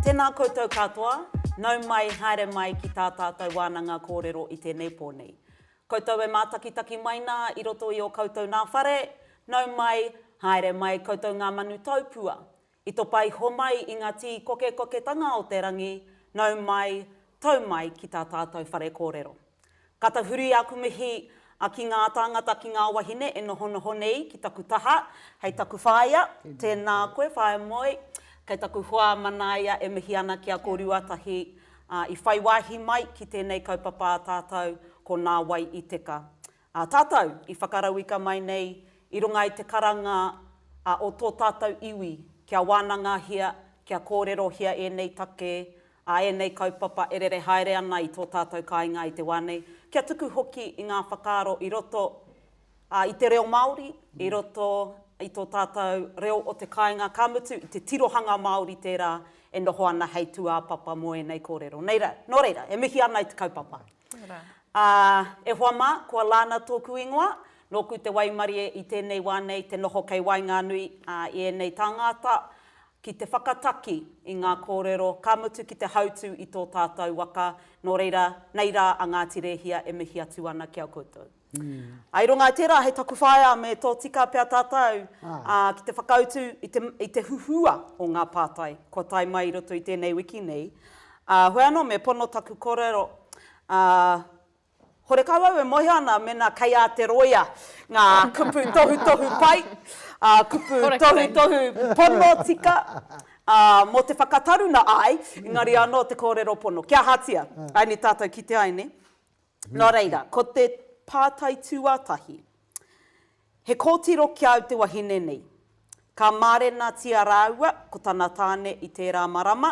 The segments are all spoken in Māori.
Tēnā koutou katoa, nau mai, haere mai ki tā tātou wānanga kōrero i tēnei pō nei. Koutou e mātakitaki mai nā i roto i ō koutou nā whare, nau mai, haere mai koutou ngā manu taupua. I topa iho mai i nga tii kokekoketanga o te rangi, nau mai, tau mai ki ta tatou whare korero. Ka tahuri aku mihi a ki nga tangata ki nga wahine e nohonoho nei ki taku taha, hei taku whaea, tena koe Whaea Moe, kei taku hoa manaia e mihi ana ki a ko Ruatahi a i whai wahi mai ki tenei kaupapa a tatou ko Na Wai i Teka. A tātou i whakarauika mai nei i runga i te karanga a o tō tātou iwi kia wānangahia, kia kōrerohia ēnei take, a ēnei kaupapa e rere haere ana i tō tātou kāinga i te wā nei, kia tuku hoki i ngā whakaaro i roto, a, i te reo Māori, i roto i tō tātou reo o te kāinga, ka mutu i te tirohanga Māori tērā e noho ana hei tūāpapa mō ēnei kōrero. Nō reira, e mihi ana i te kaupapa. Ā, e hoa mā, kua lana tōku ingoa, nōku te waimarie i tēnei wā nei te noho kei waenganui i ēnei tāngāta ki te whakataki i ngā kōrero, ka mutu ki te hautū i tō tātou waka, nō reira, nei rā a Ngāti Rēhia e mihi atu ana ki a koutou. I runga i tērā, hei taku whaea me tōtika pea tātou ki te whakautu i te huhua o ngā pātai kua tae mai i roto i tēnei wiki nei. Heoi anō, me pono taku kōrero, horekau au e mōhio ana mēnā kei a te rōia ngā kupu tohutohu pai, kupu tohutohu pono tika mō te whakataruna ai, engari anō te kōrero pono. Kia ahatia, aini tātou kitea ai, nē? Nō reira, ko te pātai tuatahi, He kōtiro ki a au te wahine nei. Ka mārenatia rāua ko tana tāne i tērā marama,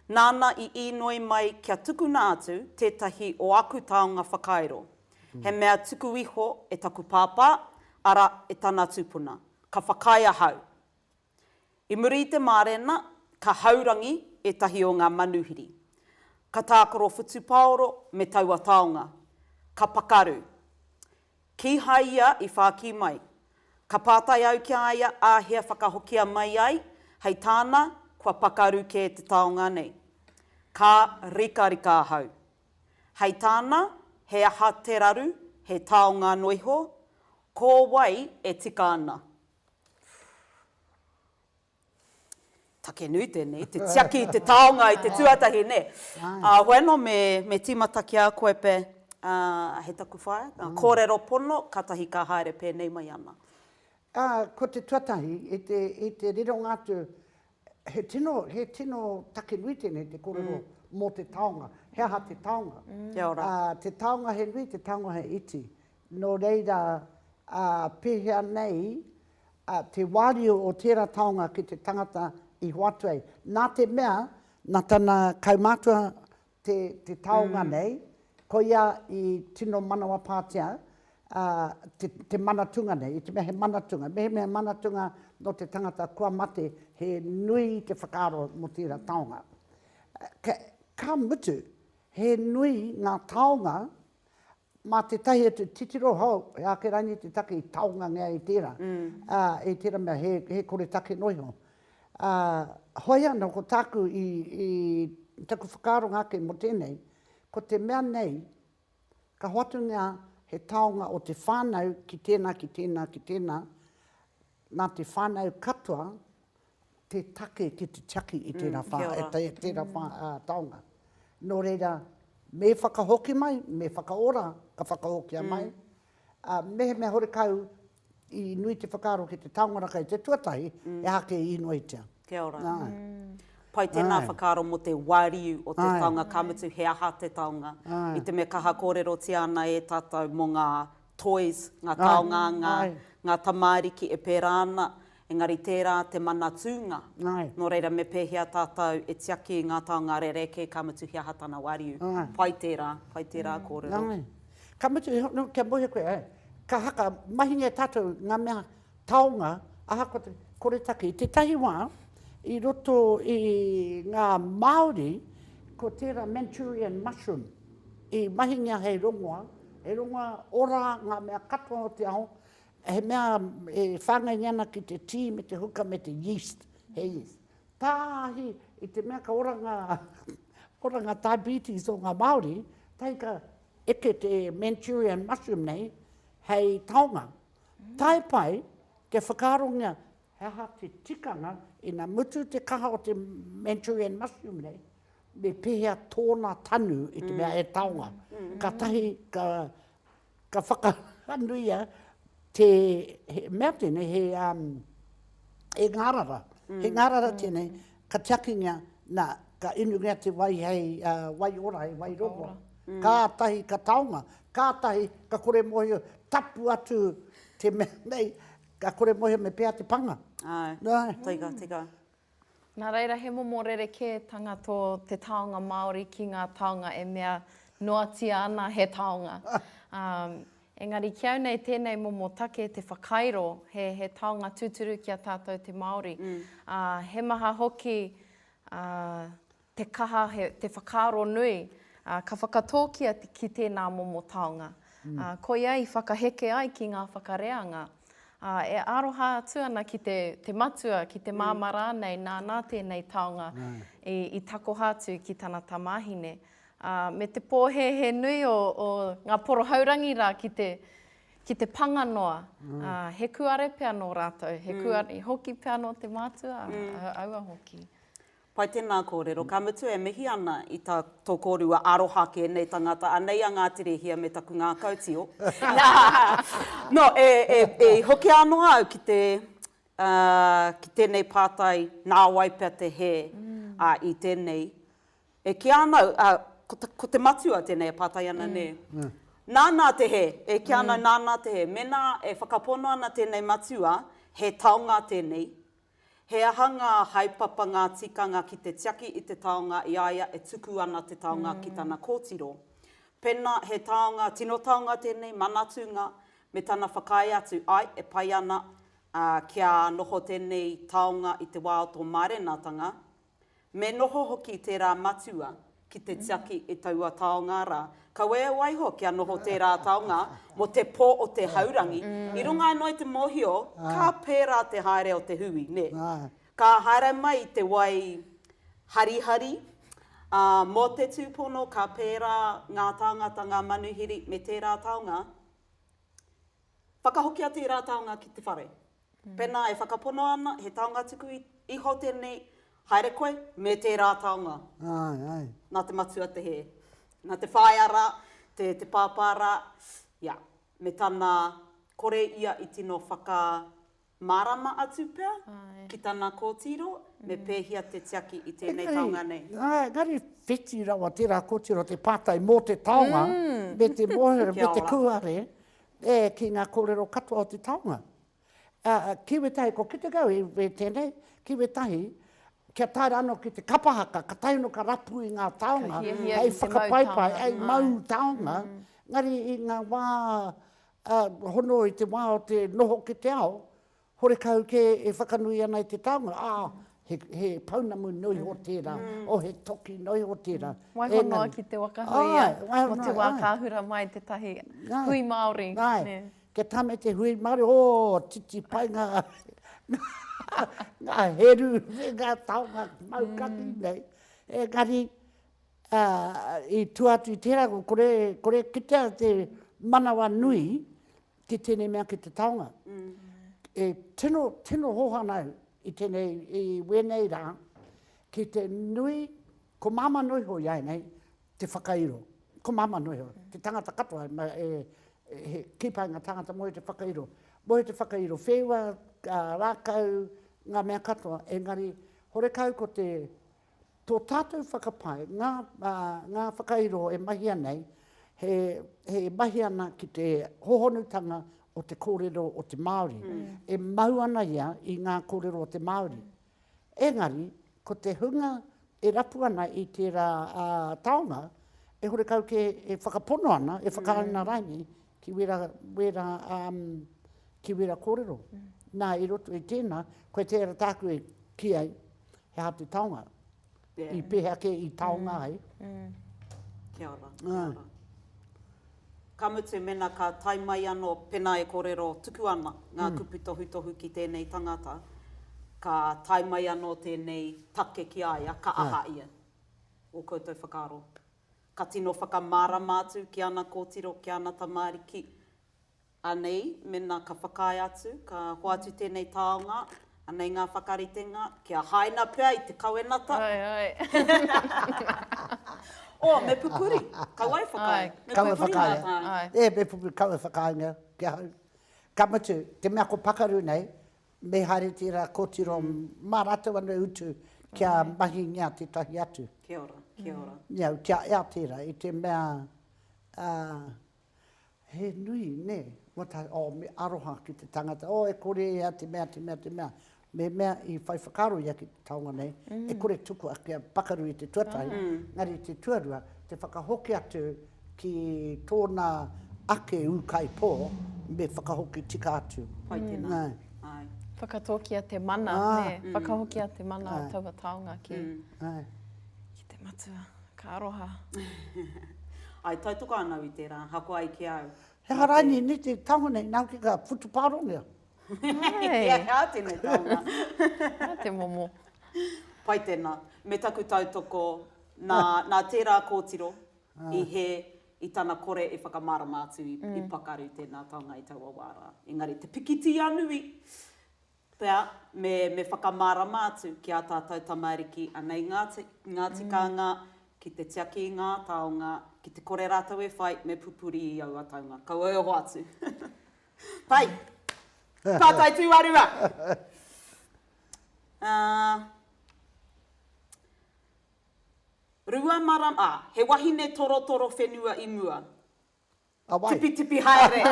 nāna i īnoi mai kia tukuna atu tētahi o aku taonga whakairo, he mea tuku iho e taku pāpā, arā, e tana tūpuna. Ka whakaae ahau. I muri i te mārena, ka haurangi ētahi o ngā manuhiri. Ka tākaro whutupaoro me taua taonga. Ka pakaru. Kīhai ia i whākī mai. Ka pātai au ki a ia āhea whakahokia mai ai, hei tāna, kua pakaru kē te taonga nei. Ka rikarika ahau. Hei tāna, he aha te raru, he taonga noa iho? Ko wai e tika ana? Take nui tēnei, te tiaki i te taonga i te tuatahi, nē. Ahoe anō, me tīmata ki a koe pea hei taku whaea, ngā kōrero pono, kātahi ka haere pēnei mai ana. Ko te tuatahi, i te rironga atu He tino, he tino take nui tēnei te kōrero mō te taonga. He aha te taonga? Kia ora. Te taonga he nui, te taonga he iti. Nō reira, pēhea nei te wāriu o tērā taonga ki te tangata i hoatu ai? Nā te mea, nā tana kaumātua te te taonga nei, koia i tino manawapātia te te manatunga nei, i te mea he manatunga, mehemea he manatunga nō te tangata kua mate, he nui te whakaaro mō tērā taonga. Ka mutu, he nui ngā taonga Mā tētahi atu titiro hou, he āke rainī te take i taongangea e tērā, ā, e tērā mea he, he koretake noa iho. Ā, hoi anō ko tāku i, i taku whakaaronga ake mō tēnei, ko te mea nei, ka hoatungia he taonga o te whānau ki tēnā, ki tēnā, ki tēnā, Nā te whānau katoa te take ki te tiaki i tērā whā, i tērā whā taonga. Nō reira, me whakahoki mai, me whakaora ka whakahokia mai, ā, mehemea horekau i nui te whakaaro ki te taonga rā kei te tuatahi, he aha kē i inoitia. Kia ora. Āe. Pai tēnā whakaaro mō te wāriu o te taonga, ka mutu he aha te taonga. I te mea kaha kōrerotia ana e tātou mō ngā. toys, ngā taonga, ngā, ngā tamāriki e pērā ana, engari tērā te mana tūnga. Nō reira, me pēhea tātou e tiaki i ngā taonga rerekē, ka mutu he aha tana wāriu. Pai tērā, pai tērā kōrero. Ka mutu iho, nō, kia moe koe, ka haka, mahingia tātou ngā mea, Taonga, ahakoa te koretake. I tētahi wā, i roto i ngā Māori, ko tērā Manchurian mushroom i mahingia hei rongoa, he rongoa ora ngā mea katoa o te ao, he mea e whāngaingia ana ki te tī me te huka me te yeast, he yeast. Tāhi i te mea ka ora ngā, ora ngā diabetes o ngā Māori, tahi ka eke te Manchurian mushroom nei hei taonga. Tae pai, kia whakaarongia he aha te tikanga ina mutu te kaha o te Manchurian mushroom nei, me pēhea tōna tanu i te mea e taonga. Kātahi ka, ka whakanuia te, he mea tēnei, he, um, he ngārara. He ngārara tēnei, Ka tiakingia, nā, ka inungia te wai hei wai ora, hei wai rongoa. Kātahi ka taonga, kātahi ka kore mōhio tapu atu te mea nei, ka kore mōhio me pēhea te panga. Āe, tika, tika. Nā reira, he momo rerekētanga tō te taonga Māori ki ngā taonga e mea noatia ana he taonga. Engari kiau nei tēnei momo take te whakairo he he taonga tūturu ki a tātou te Māori. Ā, he maha hoki ā, te kaha, he, te whakaaro nui ā, ka whakatōkia te, ki tēnā momo taonga. Ā, koia i whakaheke ai ki ngā whakareanga. Ā, e aroha atu ana ki te, te matua, ki te māmā rānei nā, nā tēnei taonga i, i takoha atu ki tana tamāhine. ā, me te pōhēhē nui o, o ngā porohaurangi rā ki te, ki te panga noa. Mm. Ā, he kuare pea nō rātou, he mm. kuare hoki pea nō te mātua, mm. aua hoki. Pai tēnā kōrero. Ka mutu e mihi ana i tā tō kōrua aroha kē nei tangata. Anei a Ngāti Rehia me taku ngākau tio. no, e, e, e hoki anō au ki te uh, ki tēnei pātai nā wai pea te hē mm. uh, i tēnei E kī ana au, ā, ko te, ko te matua tēnei e pātai ana, nē. Nānā te hē, e kī ana au, nānā te hē. Mēnā e whakapono ana tēnei matua, he taonga tēnei, he aha ngā haepapa, ngā tikanga ki te tiaki i te taonga i a ia e tuku ana te taonga ki tana kōtiro. Pēnā he taonga, tino taonga tēnei, manatūnga, me tana whakaae atu, āe, e pai ana, ā, kia noho tēnei taonga i te wā o tō mārenatanga, Me noho hoki tērā matua ki te tiaki i taua taonga rā. Kawea waiho kia noho tērā taonga mō te pō o te haurangi. I runga anō i te mōhio, ka pērā te haere o te hui, nē. Ka haere mai i te wai harihari, ā, mō te tūpono ka pērā ngā tāngata, ngā manuhiri me tērā taonga Whakahokia tērā taonga ki te whare. Pēnā e whakapono ana he taonga tuku iho tēnei, haere koe me tērā taonga. Nā te matua te hē. Nā te whaea rā, te pāpā rā, ia, me tana kore ia i tino whaka, Mārama atu pea ki tana kōtiro me pēhia te tiaki i tēnei taonga nei. Engari, engari whiti rawa tērā kōtiro te pātai mō te taonga me te mōhio, me te kūare ki ngā kōrero katoa o te taonga. Ki wētahi, ko kite kau i we tēnei, ki wētahi, kia tae rā anō ki te kapa haka, ka tae anō ka rapu i ngā taonga, hei whakapaipai, hei mau taonga, engari i ngā wā Ka hono i te wā o te noho ki te ao, horekau kē e whakanui ana i te taonga, ā, he, he pounamu noa iho tērā, o he toki noa iho tērā. Waiho noa ki te wakahuia mō te wā ka hura mai tētahi hui Māori. Āe, kia tāmei te hui Māori, ō, titi pai ngā, ngā heru me ngā taonga mau kaki nei. Engari, ā, i tua atu i tērā, kore, kore e kitea te manawa nui ki tēnei mea ki te taonga. E tino, tino hohana au i tēnei, i wēnei rā, ki te nui, ko māmā noa iho i a nei, te whakairo. Ko māmā noa iho, te tangata katoa, ma, e, he kīpainga tāngata moe te whakairo. Moe te whakairo wheua, ā, rākau, ngā mea katoa, engari, horekau ko te, Tō tātou whakapae, ngā, ā, ngā whakairo e mahia nei, he, he mahi ana ki te hohonutanga o te kōrero o te Māori. E mau ana ia i ngā kōrero o te Māori. Engari, ko te hunga e rapu ana i tērā, ā, taonga, e horekau kē e whakapono ana, e whakaauna raini ki wērā, wērā, ā, ki wērā kōrero. Nā, i roto i tēnā, koe tērā tāku e kī ai, he aha te taonga, i pehea ke i taonga ai. Kia ora, kia ora. Ka mutu mena ka tae mai ano, pena e korero tuku ana nga kupu tohutohu ki tenei tangata, ka tae mai ano tenei take ki a ia, ka aha ia? O koutou whakaaro. Ka tino whakamarama atu ki ana kotiro, ki ana tamariki, Anei, mena ka whakaae atu, ka hoatu tēnei taonga, anei ngā whakaritenga, kia haina pea i te kawenata. Ae, ae. Oh, me pupuri, kaua e whakaae. Ae. Kaua e whakaae, ae. E, me pupuri, kaua e whakaaengia ki ahau. Ka mutu, te mea ko pakaru nei, me haere tērā kōtiro mā rātou anō e utu kia mahingia tētahi atu. Kia ora, kia ora. Kia ea tērā, i te mea, He nui, nē, kua tae, oh, me aroha ki te tangata, oh, e kore e ia te mea, te mea, te mea, me mea i whai whakaaro ia ki te taonga nei, e kore tukua kia pakaru i te tuatahi, engari i te tuarua, te whakahoki atu ki tōna ake ūkaipō, me whakahoki tika atu. Pai tēnā, āe. Whakatōkia te mana, nē, whakahokia te mana o taua taonga ki te matua. Ka aroha. I tautoko ana au i tērā, hako ai ki a au. He aha rānei nei te taonga nei, nā hoki ka whutupārongia. He aha tēnei taonga? Nā te momo. Pai tēnā. Me taku tautoko, nā, nā tērā kōtiro i hē i tana kore e whakamārama atu i pakaru tēnā taonga i taua wā rā. Engari te pikitia nui, Pea, me, me whakamārama atu ki ā tātou tamāriki anei ngā, ngā tikanga ki te tiaki i ngā taonga, ki te kore rātou e whai, me pupuri i aua taonga. Kaua e hoatu. Pai! Pātai tūarua! Ā, rua marama, ā, he wahine torotoro whenua i mua. A wai? Tipitipi haere!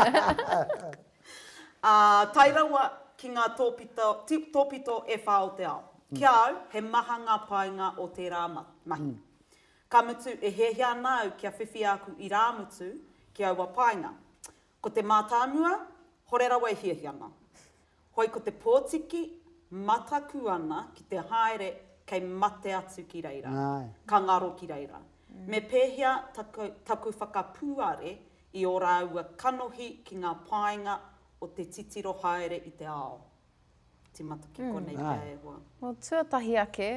Ā, tae rawa ki ngā tōpito, ti, tōpito e whā o te ao. Ki a au, he maha ngā painga o tērā ma, mahi. Ka mutu, e hiahia ana au kia whiwhi āku irāmutu ki aua painga. Ko te mātāmua, hore rawa e hiahianga. Hoi ko te pōtiki, mataku ana ki te haere kei mate atu ki reira, ka ngaro ki reira. Me pēhea taku, taku whakapūare i ō rāua kanohi ki ngā painga o te titiro haere i te ao? Tīmata ki konei pea e hoa. Nō tuatahi ake,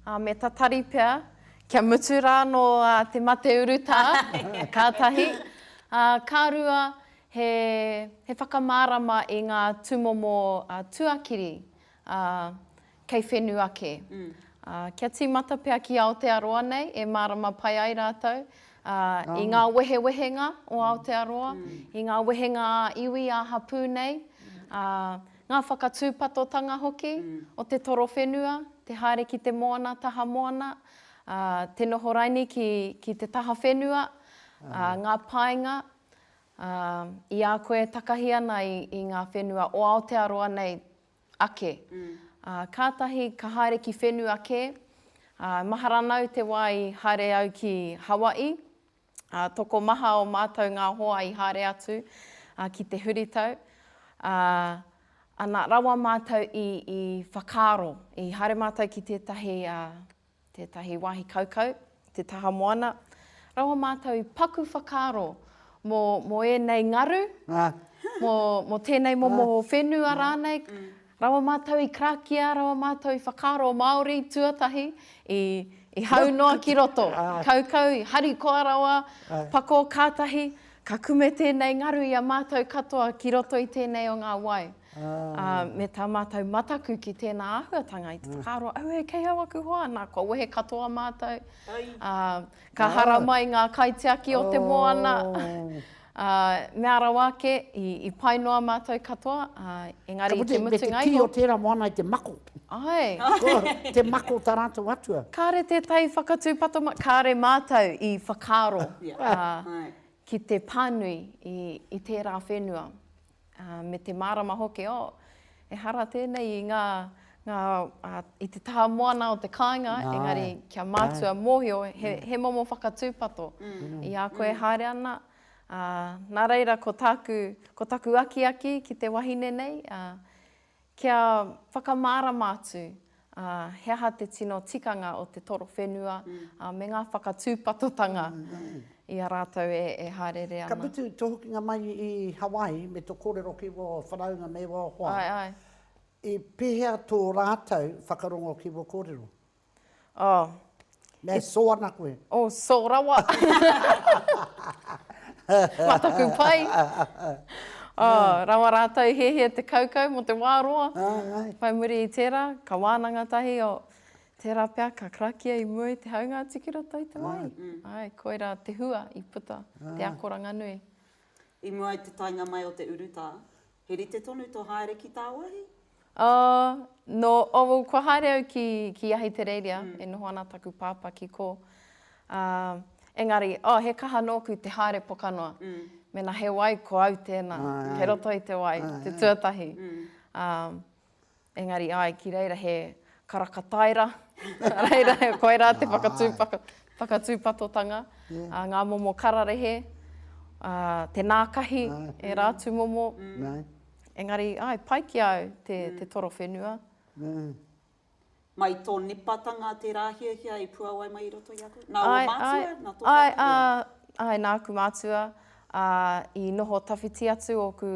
ā, me tatari pea, kia mutu rā anō te mate urutā, kātahi. Ā, ka rua, He whakamārama i ngā tūmomo tuakiri kei whenu ake. Kia tīmata pea ki Aotearoa nei e mārama pai ai rātou i ngā wehewehenga o Aotearoa, i ngā wehenga ā-iwi, ā-hapū nei, ngā whakatūpatotanga hoki o te torowhenua, te haere ki te moana, taha moana, te noho raini ki te taha whenua, ngā painga, Ā, i a koe e takahi ana i ngā whenua o Aotearoa nei ake, ā, kātahi ka haere ki whenua kē, ā, mahara nāu te wā i haere au ki Hawaii, ā, tokomaha o mātou ngā hoa i haere atu, ā, ki te huritau, ā, ana rawa mātou i, i whakaaro, i haere mātou ki tētahi, ā, tētahi wāhi kaukau, te taha moana, raua mātou i paku whakaaro mō, mō ēnei ngaru, mō, mō tēnei momo whenua rānei, raua mātou i karakia, raua mātou i whakaaro Māori tuatahi, i, i hau noa ki roto, kaukau, i harikoa rawa, pako kātahi, Ka kume tēnei ngaru i a mātou katoa ki roto i tēnei o ngā wai, ā, me tā mātou mataku ki tēnā āhuatanga i te whakaaro, Auē, kei au aku hoa! Nā, kua wehe katoa mātou, ā, ka hara mai ngā kaitiaki o te moana, ā, mea rawa ake, i, i pai noa mātou katoa, ā, engari i te mutunga iho. Ka mutu, me te kī o tērā moana i te mako. Ae. Ko te mako ta ratou atua. Kare te tai whakatu patoma, kare matou i whakaaro ki te panui i tera whenua me te marama hoki oh ehara tenei i nga nga i te taha moana o te kainga engari kia matua mohio he momo whakatupato i a koe e haere ana na reira ko taku ko taku akiaki ki te wahine nei Kia whakamārama atu he aha te tino tikanga o te toro whenua me ngā whakatūpatotanga i a rātou e hāereere ana. Ka mutu tō hokinga mai i Hawaii me tō kōrero ki wō whanaunga me wō hoa, i pēhea tō rātou whakarongo ki wō kōrero? Oh. Me so ana koe. Oh, so rawa. Mā taku pai. Oh, rawa rātou hiahia te kaukau mō te wā roa. Whai muri i tērā, ka wānanga tahi o tērā pea ka karakia i mua i te haunga atu ki roto i te wai. Ai, koirā te hua i puta, te akoranga nui. I mua i te taenga mai o te urutā, He rite tonu to haere ki Taawahi? Oh, no, oh well, kua haere au ki, ki Ahitereiria, e noho ana taku pāpā ki kō. Um, engari, oh, he kaha nōku te haere pokanoa. Mēnā he wai, ko au tēnā, kei roto i te wai, te tuatahi. Um, Engari ai ki reira he karaka taira, nā reira koirā te whakatūpatotanga, ngā momo kararehe, te nākahi, ērā atu momo. Engari, āe, pai ki a au te toro whenua. Mai tō nipatanga tērā hiahia i puawai mai i roto i a koe? Nā ō mātua? Nā tō tātou reo? Āe, nāku mātua. Ā, i noho tawhiti atu ōku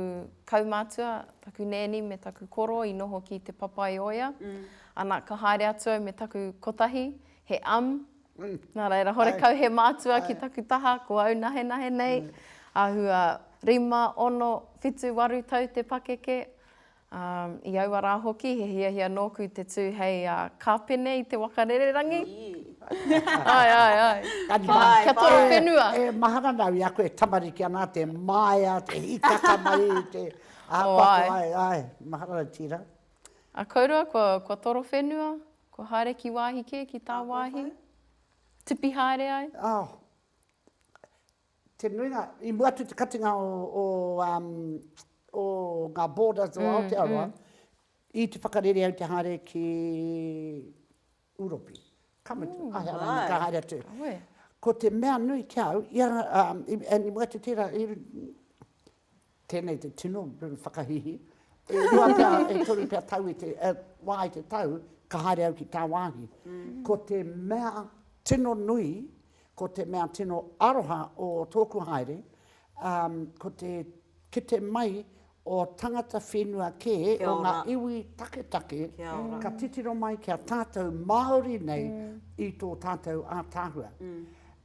kaumātua, taku nēni me taku koro i noho ki Te Papaioea. Ana, ka haere atu au me taku kotahi, he am. Nā reira, horekau he mātua ki taku taha, ko au nahenahe nei. Āhua rima, ono, whitu, waru tau te pakeke. Ā, i aua rā hoki he hiahia nōku te tū hei kāpene i te waka rererangi. Āe, āe, āe. Āe, kia toro whenua. E mahara nāu i aku e tamariki ana, te māia, te hikaka mai, te āpapa, āe, āe, mahara nāu tīra. A kōrua, kua toro whenua, kua haere ki wāhi kē, ki tāwāhi, tipi haere ai. Ā, Te nuinga, i mua atu i te katinga o, o, o ngā borders o Aotearoa, mm, mm. i te whakarere au te haere ki Uropi. Ka mutu, mm, ahe arangi ka haere atu. Awe. Ko te mea nui ki au, ia, um, i, i mua atu tērā, i, Tēnei te tino whakahihi. E rua pea, e toru pea tau i te, e, wā i te tau, ka haere au ki tāwāhi. Ko te mea tino nui, ko te mea tino aroha o tōku haere, um, ko te kite mai o tangata whenua kē, o ngā iwi taketake, ka titiro mai ki a tātou Māori nei i tō tātou ātaahua.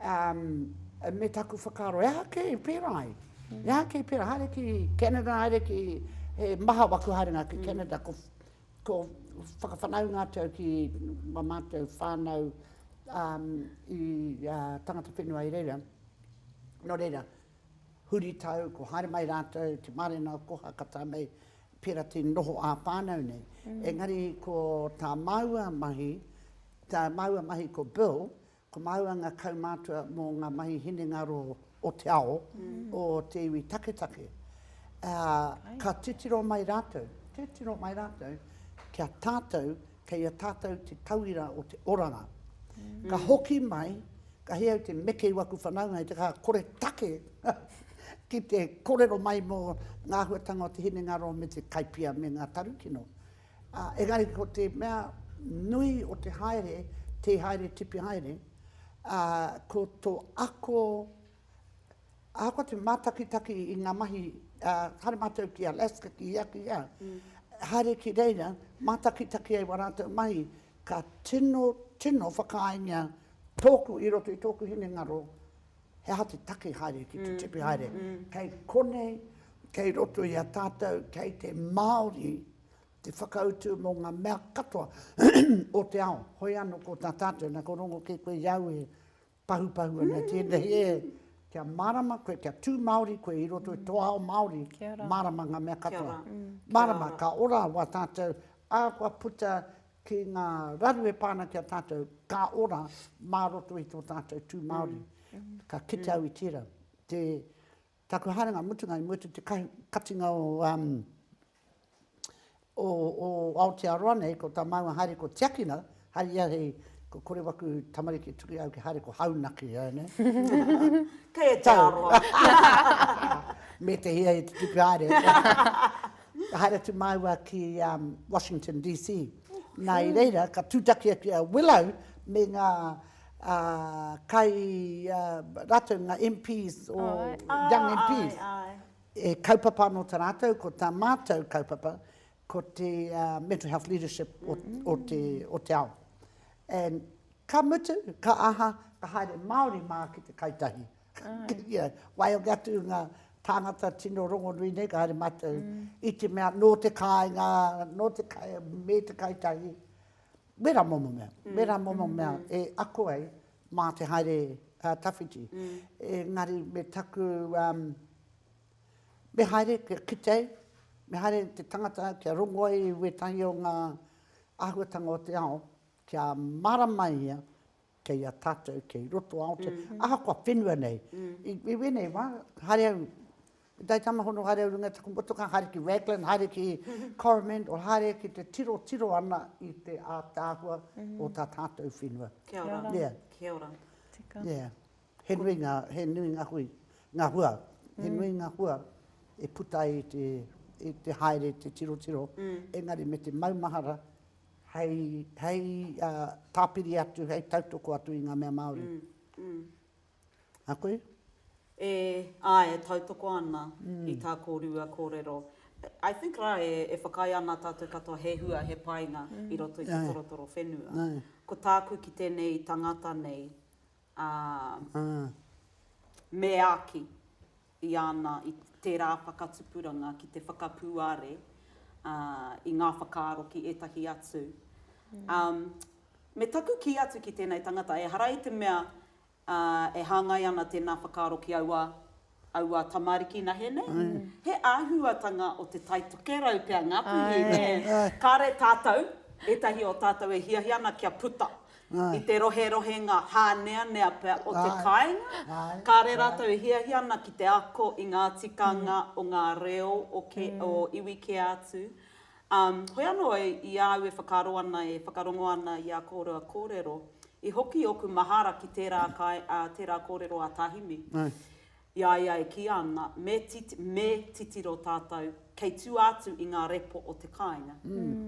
Um, me taku whakaaro, e aha kē i pērā ai? Mm. E aha kē i pērā? Haere ki Canada, haere ki... He maha waku haerenga ki mm. Canada, ko, ko whakawhanaunga atu au ki ma mātou whānau um, i uh, tangata whenua i reira. Nō reira, huri tau, ko haere mai rātou, te mārena o koha ka tā mei, pērā te noho ā whānau nei. Mm. Engari ko tā māua mahi, tā māua mahi ko Bill, Ko māua ngā kaumātua mō ngā mahi hinengaro o te ao, o te iwi taketake, ā, ka titiro mai rātou, titiro mai rātou ki a tātou, kei a tātou te tauira o te oranga. Ka hoki mai, ka hē au te meke i waku whanaunga i te kaha kore take ki te korero mai mō ngā āhuatanga o te hinengaro me te kaipia me ngā tarukino. Engari ko te mea nui o te haere, tē haere tipi haere, ko tō ako, ahakoa te mātakitaki i ngā mahi, haere mātou ki Alaska, ki hea, ki hea, haere ki reira, mātakitaki ai wā rātou mahi, ka tino, tino whakaaengia tōku, i roto i tōku hinengaro, he aha te take haere ki te tipi haere, kei konei, kei roto i a tātou, kei te Māori, te whakautu mō ngā mea katoa o te ao. Hoi anō ko tā tātou, nā ko rongo kē koe i au e pahupahu ana tēnei e, kia mārama koe, kia tū Māori koe i roto i tō ao Māori, mārama ngā mea katoa. Mārama, ka ora wā tātou, ā kua puta ki ngā raru e pā ana ki a tātou, ka ora mā roto i tō tātou tū Māori. Ka kite au i tērā. Te, taku haerenga mutunga i mua te katinga o, um, o, o Aotearoa nei, ko tā māua haere ko Tiakina, hai ia hei, ko kore waku tamariki e tuku au ki haere ko Haunaki, e ne? Kei e te aroha. Me te hia e te tuku haere. Ka haere atu māua ki Washington DC. Nā i reira ka tūtaki atu a Willow me ngā kai, rātou ngā MPs, young MPs, he kaupapa anō tā rātou, ko tā mātou kaupapa, ko te mental health leadership o te ao. And ka mutu, ka aha, ka haere Māori mā ki te Kai Tahi. Ia, waihoki atu ngā tāngata tino rongonui nei, ka haere mātou i te mea nō te kāinga, nō te kai, me te kai tahi, wērā momo mea, wērā momo mea e ako ai mā te haere tawhiti. Engari me taku, me haere kia kite ai, me haere te tangata kia rongo ai i wētahi o ngā āhuatanga o te ao, kia mārama ia, kei a tātou, kei roto a Aotearoa, ahakoa whenua nei. I wēnei wā, haere au, i tai tamahono haere au runga i taku motokā, haere ki Raglan, haere ki Coromandel, haere ki te tirotiro ana i te ātaahua o tā tātou whenua. Kia ora. Kia ora. Kia ora. Tika. Yeah. He nui ngā, he nui ngā hui, ngā hua. He nui ngā hua e puta ai te, i te haere, te tirotiro. Engari me te maumahara, hei, hei tāpiri atu, hei tautoko atu i ngā mea Māori. A koe? E, āe, e tautoko ana i tā kōrua kōrero. I think rā e, e whakaae ana tātou katoa he hua, he painga i roto i te torotoro whenua. Ko tāku ki tēnei tangata nei, ā, meāki. i ana i tērā whakatupuranga ki te whakapūare i ngā whakaaro ki ētahi atu. Me taku kī atu ki tēnei tangata, ehara i te mea e hāngai ana tēnā whakaaro ki aua, aua tamariki nahe nei, he āhuatanga o te tai tokerau pea Ngāpuhi, nē? Kāre tātou, ētahi o tātou e hiahia ana kia puta, i te roherohenga hāneanea pea o te kāinga, kāre rātou e hiahia ana ki te ako i ngā tikanga o ngā reo o iwi kē atu. Hoi anō, i a au e whakaaro ana, e whakarongo ana i a kōrua kōrero, i hoki ōku mahara ki tērā kōrero a Tahimi. I a ia e kīia ana, me, me titiro tātou kei tua atu i ngā repo o te kāinga.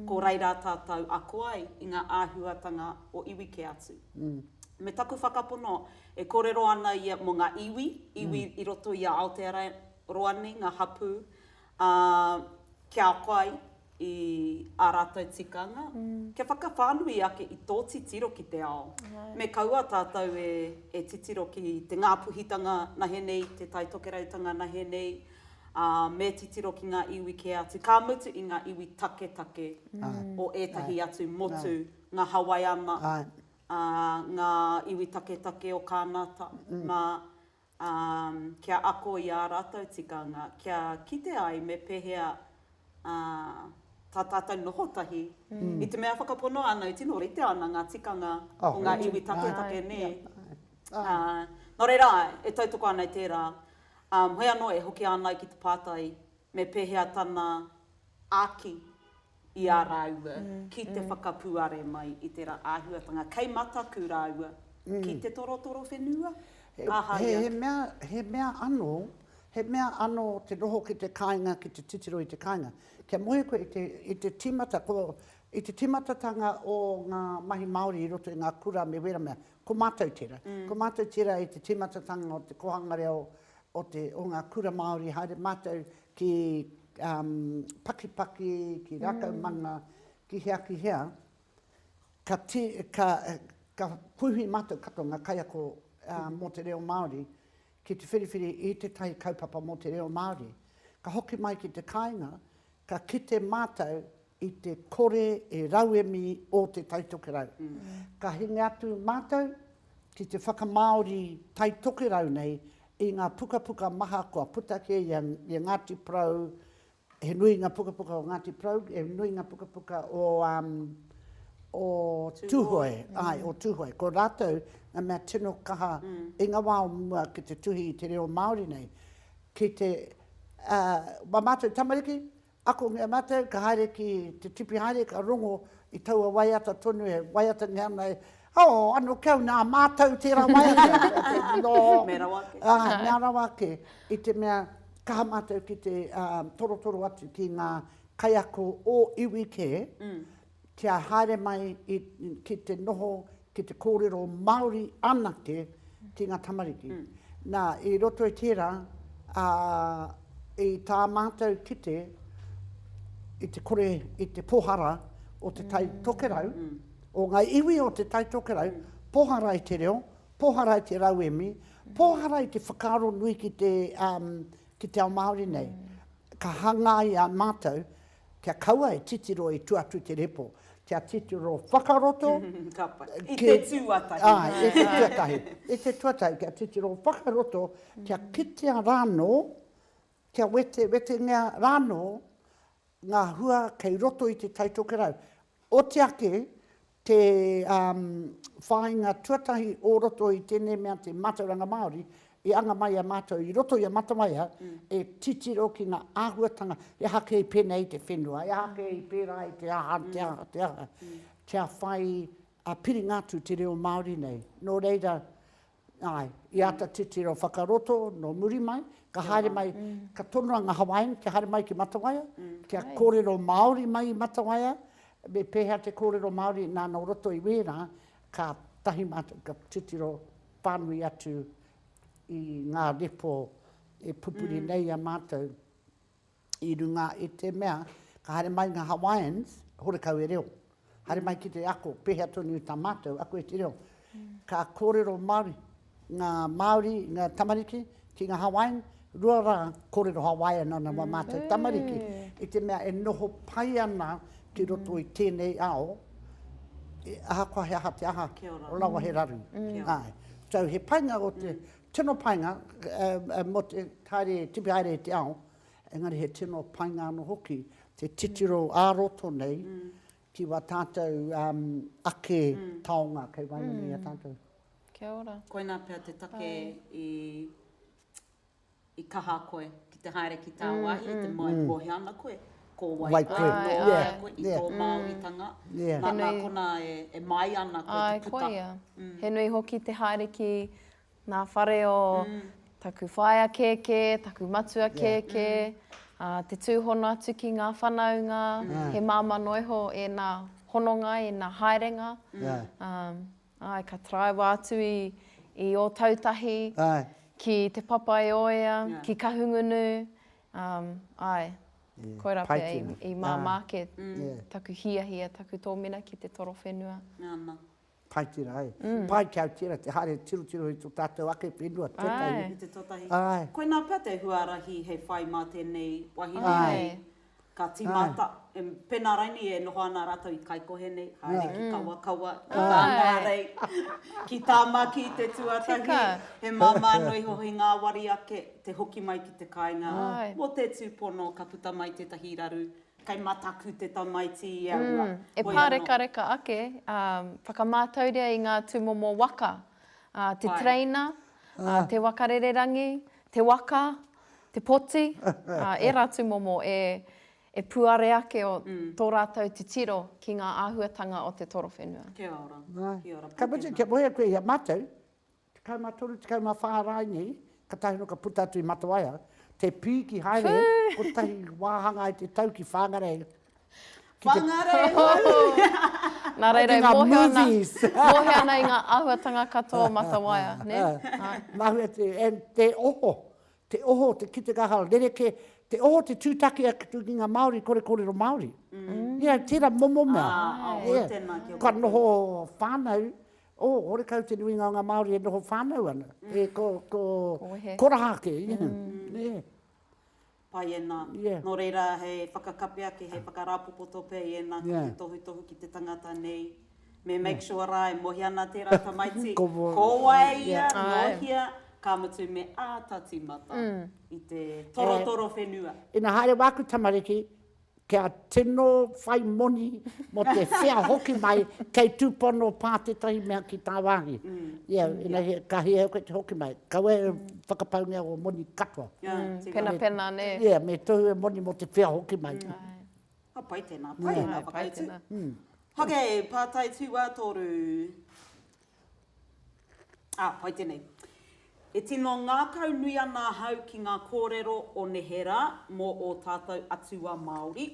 Ko reira tātou ako ai i ngā āhuatanga o iwi kē atu. Me taku whakapono, e kōrero ana ia mō ngā iwi, iwi i roto i a Aotearoa nei, ngā hapū, ā, kia ako ai i ā rātou tikanga, kia whakawhānui ake i tō titiro ki te ao. Me kaua tātou e titiro ki te ngāpuhitanga nahe nei, te taitokerautanga nahe nei, ā, me titiro ki ngā iwi kē atu, ka mutu i ngā iwi taketake o ētahi atu motu, ngā Hawaiana, ā, ngā iwi taketake o Kānata, nā, ā, kia ako i ā rātou tikanga, kia kite ai me pēhea tā tātou noho tahi, i te mea whakapono āna e tino rite ana ngā tikanga o ngā iwi taketake nē. Nō reira, e tautoko ana i tērā, heoi anō e hoki ana ai ki te pātai me pēhea tana āki i a rāua ki te whakapuare mai i tērā āhuatanga kei mataku rāua ki te torotoro whenua? Aha ia? He mea, he mea anō, he mea anō te noho ki te kāinga, ki te titiro i te kāinga. Kia moe koe i te, i te tīmata, ko, i te tīmatatanga o ngā mahi Māori i roto i ngā kura me wēra mea, ko mātou tērā. Ko mātou tērā i te tīmatatanga o te kōhangare o o te, o ngā kura Māori, haere mātou ki Pakipaki, ki Rākaumanga, ki hea, ki hea, ka tī, ka, ka puhi mātou katoa ngā kaiako mō te reo Māori, ki te whiriwhiri i tētahi kaupapa mō te reo Māori. Ka hoki mai ki te kāinga, ka kite mātou i te kore e rauemi ō te Taitokerau. Ka hinga atu mātou ki te whakamāori Taitokerau nei i ngā pukapuka maha kua puta kē i a Ngāti Porou, he nui ngā pukapuka o Ngāti Porou, he nui ngā pukapuka o o Tūhoe, āe, o Tūhoe. Ko rātou ngā mea tino kaha i ngā wā o mua ki te tuhi i te reo Māori nei. Ki te, ā, mā mātou tamariki, Ako nge matou ka haere ki te tipi haere ka rongo i taua waiata tonu he waiata nge ana e. Oh ano kau na matou tera waiata no me rawa ake ah me rawa ake i te mea kaha matou ki te torotoro atu ki nga kaiako o iwi ke kia haere mai i, ki te noho, ki te kōrero Māori anake ki ngā tamariki. Nā, i roto i tērā, ā, i tā mātou kite, i te kore, i te pohara o Te Tai Tokerau, o ngā iwi o Te Tai Tokerau, pohara i te reo, pohara i te rauemi, pohara i te whakaaro nui ki te, ki te ao Māori nei. Ka hangaia mātou. Kia kaua e titiro i tua atu i te repo, kia titiro whakaroto. Ka pai. I te tuatahi. Āe, i te tuatahi. I te tuatahi, kia titiro whakaroto, kia kitea rānō, kia wetewetengia rānō ngā hua kei roto i Te Tai Tokerau. Oti ake, te whāinga tuatahi o roto i tēnei mea te mātauranga Māori, i anga mai i a mātou i roto i a Matamaia, e titiro ki ngā āhuatanga, he aha kē i pēnei i te whenua, he aha kē i pērā i te aha, te aha, te aha, kia whai piringa atu te reo Māori nei. Nō reira, Āe, i āta titiro whakaroto nō muri mai, ka haere mai, ka tonoa ngā Hawaiian kia haere mai ki Matawaia, kia kōrero Māori mai i Matawaia, me pēhea te kōrero Māori nā nō roto i wērā, kātahi mātou ka titiro pānui atu i ngā repo e pupuri nei i a mātou. i runga i te mea, ka haere mai nga Hawaiians, horekau e reo. Haere mai ki te ako, pehea tonu ta matou ako i te reo. Ka korero Maori nga Maori, nga tamariki ki nga Hawaiian, rua ra korero Hawaiian ana ma matou tamariki, i te mea e noho pai ana ki roto i tenei ao, ahakoa he aha te aha, rawa he raru. Tau he painga o te Tino painga, mō te haere, tipi haere i te ao, engari he tino painga anō hoki te titiro ā-roto nei ki wā tātou ake taonga kei waenganui i a tātou. Kia ora. Koinā pea te take i kaha koe ki te haere ki tāwāhi, i te moe kō hea ana koe, kō wai koe, nō hea ana koe, i tō Māoritanga, nā konā e māia ana koe te puta. He nui hoki te haere ki Ngā whare o taku whaea kēkē, taku matua kēkē, te tūhono atu ki ngā whanaunga, he māmā noa iho ēnā hononga, ēnā haerenga. Āe, ka taraiwa atu i Ōtautahi, ki Te Papaioea, ki Kahungunu, āe, koirā pea i māmā ake taku hiahia, taku tōmina ki te toro whenua. Pai tira, ai. Mm. Pai kia tira, te haere tirotiro i to tatou ake whenua, tetahi. Ai. I te totahi. Ai. Koina pea te huarahi hei whai ma tenei wahine nei, ka timata, e, pena rainei e noho ana ratou i Kaikohe nei, haere ki Kawakawa, ki Tangarei, ki Tamaki te tuatahi. Tika. He mama noa iho hei ngawari ake te hoki mai ki te kainga. Ai. Mo te tupono ka puta mai tetahi raru Kei mataku te tamaiti i aua. Mm, e pārekareka ake, ā, whakamātauria i ngā tūmomo waka, ā, te tereina, ā, te waka rererangi, te waka, te poti, ā, ērā tūmomo e, e puare ake o tō rātou titiro ki ngā āhuatanga o te torowhenua. Kia ora, kia ora. Ka mutu, kia moe koe i a mātou. Tekau ma toru, tekau ma wha rae nei, katahi ano ka puta atu i Matawaia, te piiki haere kotahi wahanga i te tau ki Whangarei. Whangarei! Na reira e mohio ana, mohio ana i nga ahuatanga katoa o Matawaia, ne? Mahue te, and te oho, te oho, te kite kaha, rereke, te oho te tutaki atu ki nga Maori kore korero Maori. Ia tera momo mea. Ia, kua noho whanau, Oh, horekau te nuinga o nga Maori e noho whanau ana. E ko, ko, koraha ake, yeah. Pai ena. Yeah. No reira, hei whakakape ake, hei whakarāpopoto pea i ena ko te tohutohu ki te tangata nei. Me make sure ra e mohia ana tera tamaiti, ko wai ia, no hia, ka mutu me āta timata i te torotoro whenua. Ina haere waku tamariki, Kia tino whai moni mō te whea hoki mai, kei tūpono pā tētahi mea ki tāwāhi. Ia, ina he, ka hia au koe te hoki mai. Kaua e whakapaungia ō moni katoa. Penapena, nē. Ia, me tohu e moni mō te whea hoki mai. Ka pai tēnā, pai ēnā whakautu. Hake, pātai tū wātoru. Ā, pai tēnei. E tino ngākau nui ana ahau ki ngā kōrero o neherā mō ō tātou atua Māori,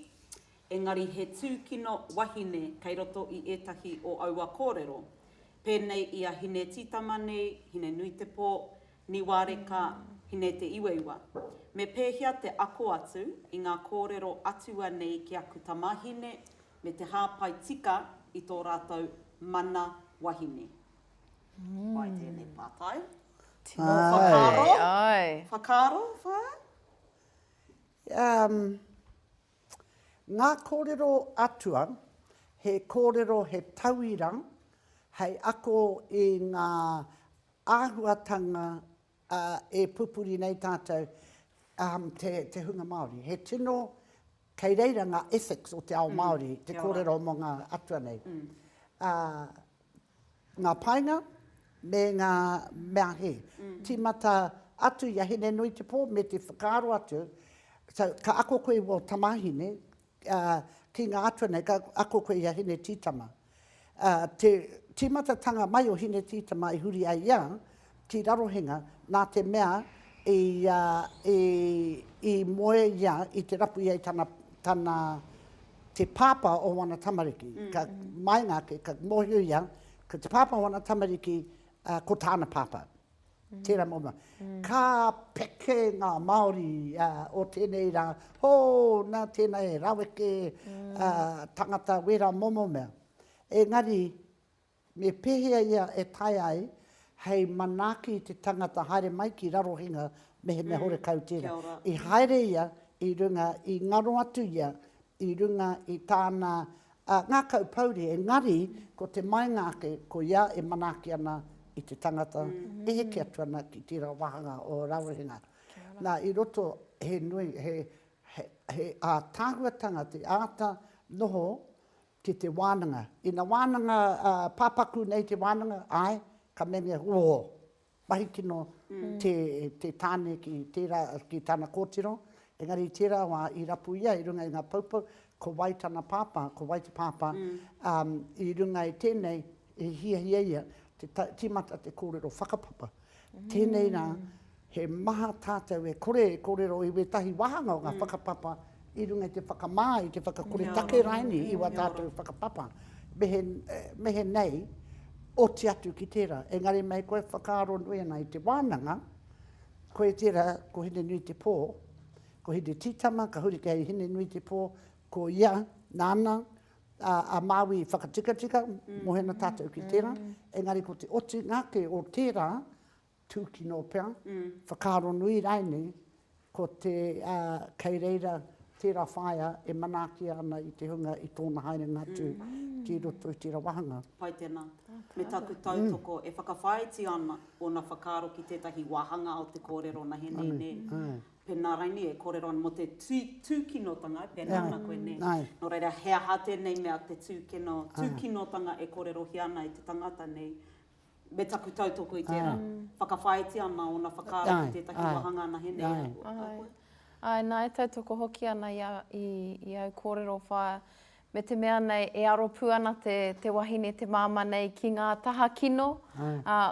engari he tūkino wahine kei roto i ētahi o aua kōrero, pēnei i a Hine-tītama nei, Hine-nui-te-pō, Niwareka, Hine-te-iweiwa. Me pēhea te ako atu i ngā kōrero atua nei ki aku tamāhine, me te hāpai tika i tō rātou mana wahine. Pai tēnei pātai. Tino whakaaro. Whakaaro, whā? Ngā kōrero atua, he kōrero, he tauira hei ako i ngā āhuatanga ā, e pupuri nei tātou te hunga Māori. He tino, kei reira ngā ethics o te ao Māori, te kōrero mō ngā atua nei. Ā, ngā painga me ngā mea hē. Tīmata atu i a Hinenuitepō me te whakaaro atu, so, ka ako koe i wō tamāhine, ā, ki ngā atua nei ka ako koe i a Hinetītama. Ā, te tīmatatanga mai o Hinetītama i huri ai ia ki Rarohenga nā te mea i, ā, i, i moe ia i te rapu ia i tana, tana, te pāpā o wana tamariki. Ka maenga ake, ka mōhio ia, ko te pāpā o wana tamariki, ā, ko tāna pāpā. Tērā mōna. Ka peke ngā Māori o tēnei rā, hō, nā tēnā he raweke tangata wērā momo mea. Engari, me pēhea ia e taea ai hei manaaki i te tangata haere mai ki Rarohenga mehemea horekau tērā. I haere ia i runga, i ngaro atu ia i runga i tāna a ngakau pouri engari ko te maenga ake ko ia e manaaki ana i te tangata e heke atu ana ki tera wahanga o Rarohenga na i roto he nui he he atahuatanga te aata noho ki te wananga ina wananga a papaku nei te wananga ae ka mengea ooh. Mahi kino te tāne ki tērā, ki tāna kōtiro, engari i tērā wā i rapu ia i runga i ngā poupou, ko wai tana pāpā, ko wai te pāpā, ā, i runga i tēnei i hiahia ia te tīmata te kōrero whakapapa. Tēnei rā, he maha tātou e kore e kōrero i wētahi wāhanga o ngā whakapapa i runga i te whakamā, i te whakakoretake raini i wā tātou whakapapa, mehe nei, oti atu ki tērā. Engari mei koe whakaaro nui ana i te wānanga, koe tērā, ko Hinenuitepō, ko Hinetītama, ka huri kei Hinenuitepō, ko ia, nāna, a Māui i whakatikatika, mohena tātou ki tērā, engari ko te otinga ake o tērā, Tūkino pea, whakaaro nui rainei, ko te, kei reira tērā whaea e manaakia ana i te hunga i tōna haerenga atu ki roto i tērā wāhanga. Pai tēnā. Me taku tautoko, e whakawhāiti ana ōna whakaaro ki tētahi wāhanga o te kōrero nahenei, nē? Pēnā rainei e kōrero ana mō te tūkinotanga, pēnā ana koe, nē? Nō reira, he aha tēnei mea te tūkinotanga e kōrerohia ana e te tangata nei? me taku tautoko i tērā, whakawhāiti ana ōna whakaaro ki tētahi wāhanga anahe nei a koe. Āe, nā, e tautoko hoki ana i au kōrero whaea, me te mea nei e aro pū ana te wahine, te māmā nei ki ngā taha kino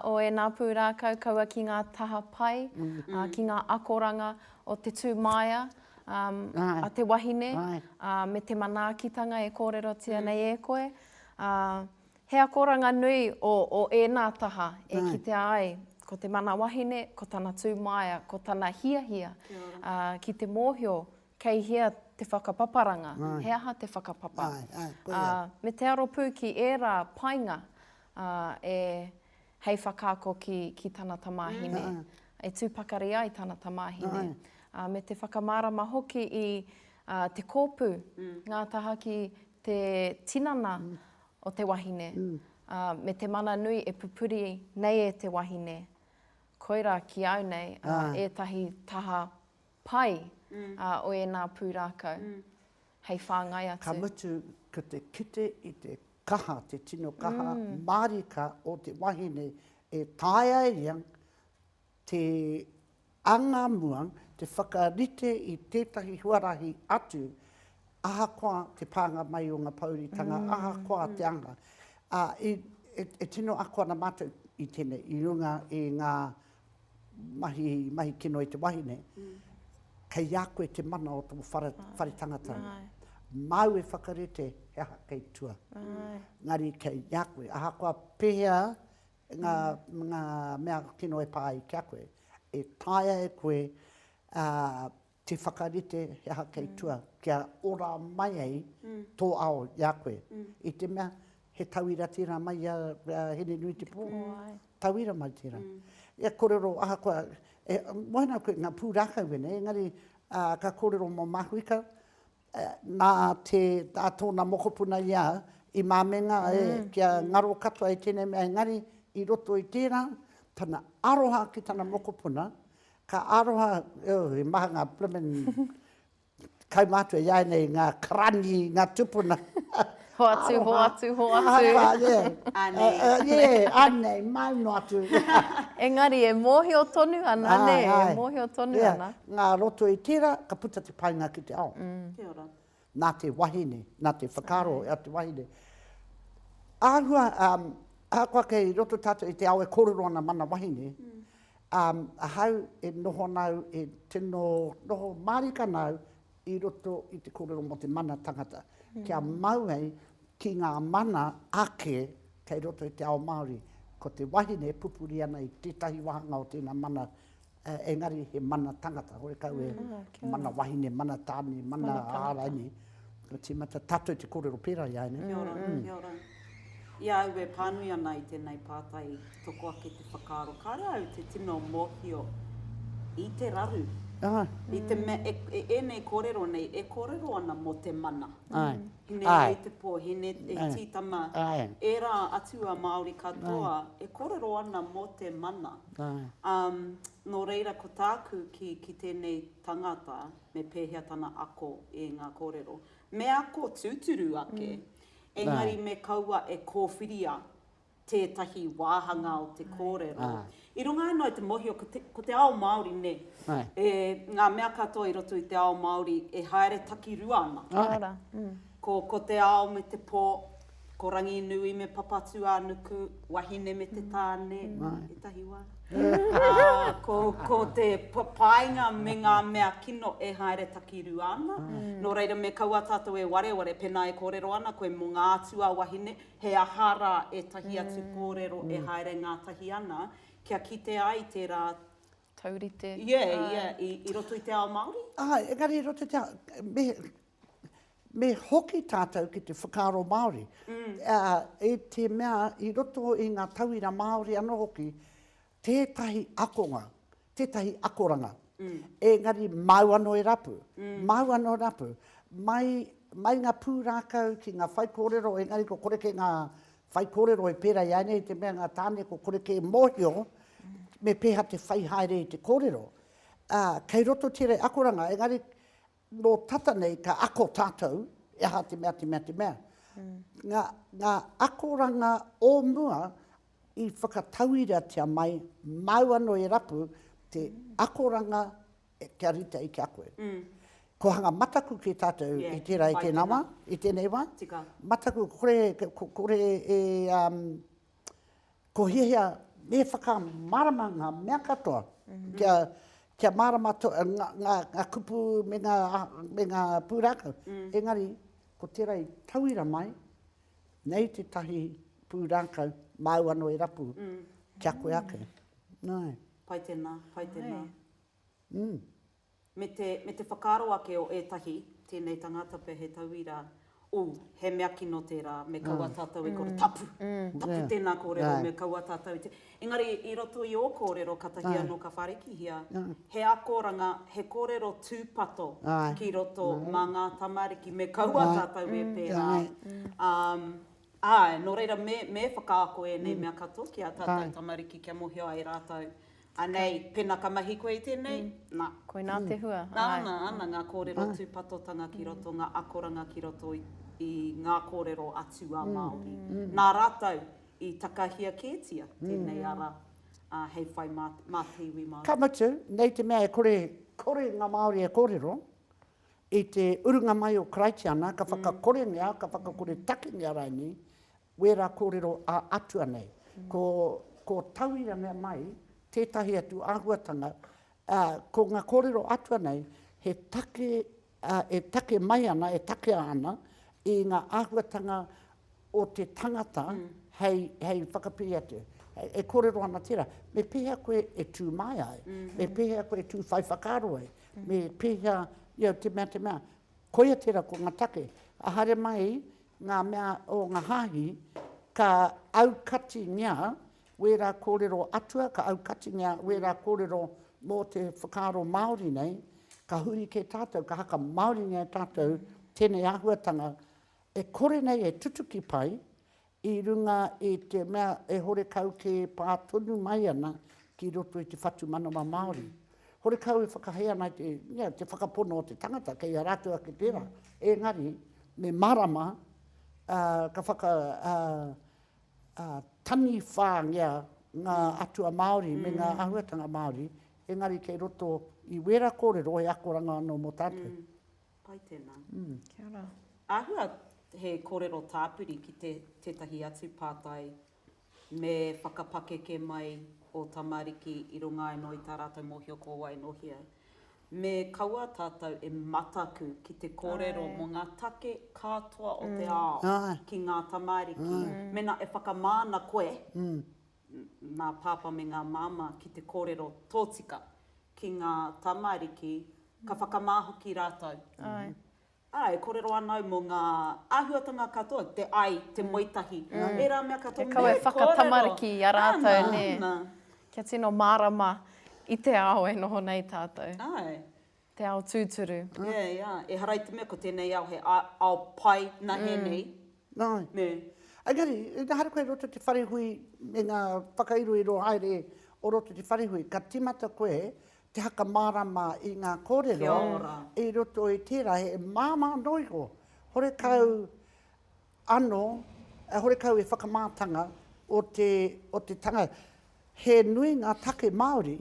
o ēnā pūrākau, kaua ki ngā taha pai, ki ngā akoranga o te tūmāia a te wahine, me te manaakitanga e kōrerotia nei e koe. He akoranga nui o o ēnā taha e kitea ai ko te mana wahine, ko tana tūmāia, ko tana hiahia ki te mōhio kei hea te whakapaparanga, he aha te whakapapa. Me te aro pū ki ērā painga e hei whakaako ki, ki tana tamāhine, e tū pakari ai tana tamāhine, ā, me te whakamārama hoki i ā, te kōpū ngā taha ki te tinana o te wahine, ā, me te mana nui e pupuri nei e te wahine. Koirā ki au nei ētahi taha pai ā, o ēnā pūrākau. hei whāngai atu. Ka mutu, ko te kite i te kaha, te tino kaha mārika o te wahine e taea e ia te anga mua, te whakarite i tētahi huarahi atu, ahakoa te pānga mai o ngā pōuritanga, ahakoa te anga. E tino ako ana mātou i tēnei, i runga i ngā mahi, mahi kino i te wahine, kei a koe te mana o tō whare, whare tangata. Ai. Māu e whakarite he aha kei tua. Ai. Ngari kei a koe. Ahakoa pēhea ngā, mm. ngā mea kino e pā ai ki a koe, e taea e koe uh, Te whakarite he aha kei tua, kia ora mai ai tō ao i a koe. I te mea, he tauira tērā mai i a Hinenuitepō, tauira mai tērā. Ia kōrero, ahakoa, e moe ana koe i ngā pūrākau ēnei, engari ka kōrero mō Mahuika, nā te, nā tōna mokopuna i a au, i māmenga e, kia ngaro katoa i tēnei mea, engari i roto i tērā, tana aroha ki tana mokopuna, ka aroha, oh, he maha ngā blimmin kaumātua i a ia nei, ngā karani, ngā tūpuna. Hoatu, hoatu, hoatu. Anei. Anei, mau noa atu. Engari, e mōhio tonu ana, nē, e mōhio tonu ana. Ngā roto i tērā, ka puta te painga ki te ao. Kia ora. Nā te wahine, nā te whakaaro a te wahine. Āhua, ahakoa kei roto tātou i te ao e kōrero ana mana wahine, ahau e noho ana au, e tino noho mārika ana au i roto i te kōrero mō te mana tangata, kia mau ai ki ngā mana ake kei roto i te ao Māori. Ko te wahine e pupuri ana i tētahi wāhanga o tēnā mana, engari he mana tangata, horekau e mana wahine, mana tāne, mana āraini, ka tīmata tātou te kōrero pērā i a ēnei. Kia ora, kia ora. I a au e pānui ana i tēnei pātai i toko ake te whakaaro kāre au te tino mōhio i te raru, i te mea e, e ēnei kōrero nei e kōrero ana mō te mana. Hine ai i te pō, hine e tītama ērā atua Māori katoa e kōrero ana mō te mana. Nō reira ko tāku ki, ki tēnei tangata me pēhea tana ako i ngā kōrero. Me ako tūturu ake. engari me kaua e kōwhiria tētahi wāhanga o te kōrero. I runga anō i te mōhio, ko te, ko te ao Māori, nē, e, ngā mea katoa i roto i te ao Māori e haere takirua ana. Ara. Ko, ko te ao me te pō, ko Ranginui me Papatūānuku, wahine me te tāne, ētahi wā. Ā, ko te painga me ngā mea kino e haere takirua ana. Nō reira, me kaua tātou e wareware, pēnā e kōrero ana koe mō ngā atua wahine, he aha rā ētahi atu kōrero e haere ngātahi ana, kia kite ai tērā taurite i roto i te ao Māori? Āe, engari i roto i te ao, me hoki tātou ki te whakaaro Māori, i te mea i roto i ngā tauira Māori anō hoki, tētahi akonga, tētahi akoranga, engari māu anō e rapu, māu anō e rapu. Mai, mai ngā pūrākau ki ngā whaikōrero, engari ko kore kē ngā whaikōrero e pērā i a ēnei, i te mea ngā tāne ko kore kē e mōhio me pēhea te whai haere i te kōrero. Kei roto tērei akoranga, engari Nō tata nei ka ako tātou e aha te mea, te mea, te mea. Ngā, ngā akoranga o mua i whakatauiratia mai, māu anō e rapu te akoranga kia rite ai ki a koe. Ko hanga mataku ki tātou i tērā, i tēnā wā, i tēnei wā. Mataku, kore, kore e, Ko hiahia me whakamārama ngā mea katoa, kia, kia mārama ngā, ngā, ngā kupu me ngā, me ngā pūrākau. Engari, ko tērā i tauira mai, nei tētahi pūrākau māu anō e rapu ki a koe ake. Nāe. Pai tēnā, pai tēnā. me te, me te whakaaro ake o ētahi, tēnei tangata pea he tauira, ū, he mea kino tērā, me kaua tātou e kore, tapu, tapu tēnā kōrero, me kaua tātou te, engari i roto i ō kōrero katahi anō ka wharekihia, he akoranga, he kōrero tūpato ki roto mā ngā tamariki, me kaua tātou e pērā, āe, nō reira me, me whakaako ēnei mea katoa ki ā tātou tamariki kia mōhio ai rātou. Anei, pena ka mahi koe i tenei, na. Koina te hua, āe. Ana, ana nga korero tupatotanga ki roto, nga akoranga ki roto i nga korero a tu a Maori. Na ratou i takahia ketia tenei ara hei whai ma te iwi Maori. Ka mutu, nei te mea e kore, kore nga Maori e korero, i te urunga mai o Karaitiana, ka whakakorengia, ka whakakore takingia raini Wērā kōrero ā-atua nei, ko, ko tauira mea mai tētahi atu āhuatanga, ā, ko ngā kōrero atua nei he take, ā, e take mai ana, e takea ana i ngā āhuatanga o te tangata hei, hei whakapiri atu. E kōrero ana tērā, me pēhea koe e tū māia ai, me pēhea koe e tū whai whakaaro ai, me pēhea, you know, te mea, te mea. Koia tērā ko ngā take. Haere mai ngā mea o ngā hāhi, ka aukatingia wērā kōrero atua, ka aukatingia wērā kōrero mō te whakaaro Māori nei, ka huri kē tātou, ka haka Māoringia e tātou tēnei āhuatanga e kore nei e tutuki pai i runga i te mea e horekau kē pā tonu mai ana ki roto i te whatumanawa Māori. Horekau e whakahē ana i te whakapono o te tangata, kei a rātou ake tērā. Engari, me mārama, ka whaka taniwhāngia ngā atua Māori me ngā āhuatanga Māori, engari kei roto i wērā kōrero he akoranga anō mō tātou. Pai tēnā. Kia ora. Āhua he kōrero tāpiri ki tētahi atu pātai me whakapakeke mai ō tamariki i runga anō i tā rātou mōhio ko wai nō hea. Me kaua tātou e mataku ki te kōrero mō ngā take katoa o te ao ki ngā tamariki. Mēnā e whakamāna koe, ngā pāpā me ngā māmā, ki te kōrero tōtika ki ngā tamariki, ka whakamā hoki rātou. Ā, e kōrero ana au mō ngā āhuatanga katoa, te ai, te moe tahi, ērā mea katoa me kōrero. He kawe whakatamariki i a rātou, nē. Āna, āna. Kia tino mārama i te ao e noho nei tātou. Āe. Te ao tūturu. Āe, ā, ehara i te mea ko tēnei ao he ao pai nahē nei. Āe. Nē. Engari, ehara koe i roto i te wharehui me ngā whakairoiro haere o roto i te wharehui, ka tīmata koe te whakamārama i ngā kōrero i roto i tērā he māmā anō iho, horekau anō, horekau he whakamātanga o te, o te tanga. He nui ngā take Māori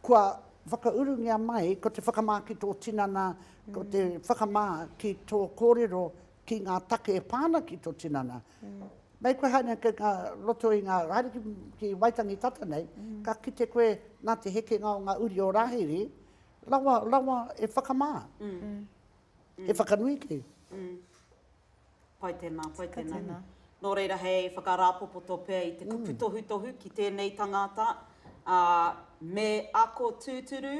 kua whakaurungia mai ko te whakamā ki tō tinana, ko te whakamā ki tō kōrero ki ngā take e pā ana ki tō tinana. Mei koe haere ki ngā roto i ngā, haere ki, ki Waitangi tata nei, ka kite koe nā te hekenga o ngā uri o Rāhiri, rawa, rawa e whakamā, e whakanui kē. Pai tēnā, pai tēnā. Nō reira hei whakarāpopoto pea i te kupu tohutohu ki tēnei tangata, ā, me ako tūturu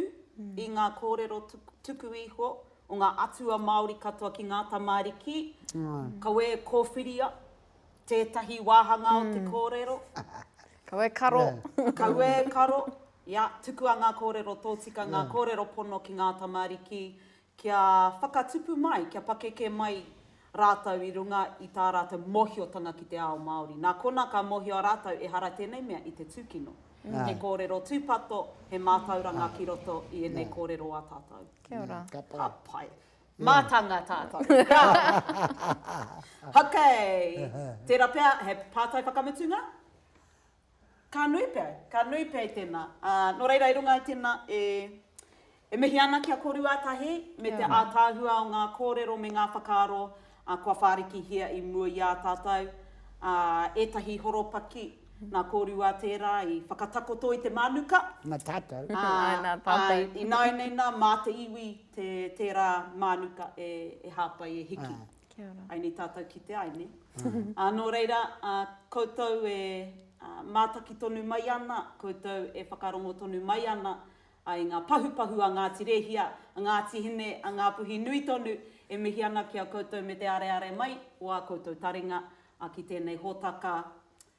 i ngā kōrero tuku iho o ngā atua Māori katoa ki ngā tamariki, kawē kōwhiria tētahi wāhanga o te kōrero. Kawē karo. Kawē karo, ia, tukua ngā kōrero tōtika, ngā kōrero pono ki ngā tamariki, kia whakatupu mai, kia pakeke mai rātou i runga i tā rātou mōhiotanga ki te ao Māori. Nā konā ka mōhio a rātou ehara tēnei mea i te tūkino. He kōrero tūpato, he mātauranga ki roto i ēnei kōrero a tātou. Kia ora. Ka pai. Ka pai. Mātanga tātou. Haka! Haka! Tērā pea, he pātai whakamutunga? Ka nui pea, ka nui pea i tēnā. Ā, nō reira i runga i tēnā e, e mihi ana ki a korua tahi me te ātaahua o ngā kōrero me ngā whakaaro kua whārikihia i mua i a tātou, ā, ētahi horopaki nā korua tērā i whakatakoto i te mānuka. Nā tātou. Ā, āe, ināianei nā, mā te iwi te, tērā mānuka e, e hāpai, e hiki. Ā. Kia ora. Aini tātou ki te Aini. Ā, nō reira, ā, koutou e, ā, mātaki tonu mai ana, koutou e whakarongo tonu mai ana, ā, i ngā pahupahu a Ngāti Rēhia, a Ngāti Hine, a Ngāpuhi nui tonu, e mihi ana ki a koutou me te areare mai o ā koutou taringa, ā, ki tēnei hōtaka,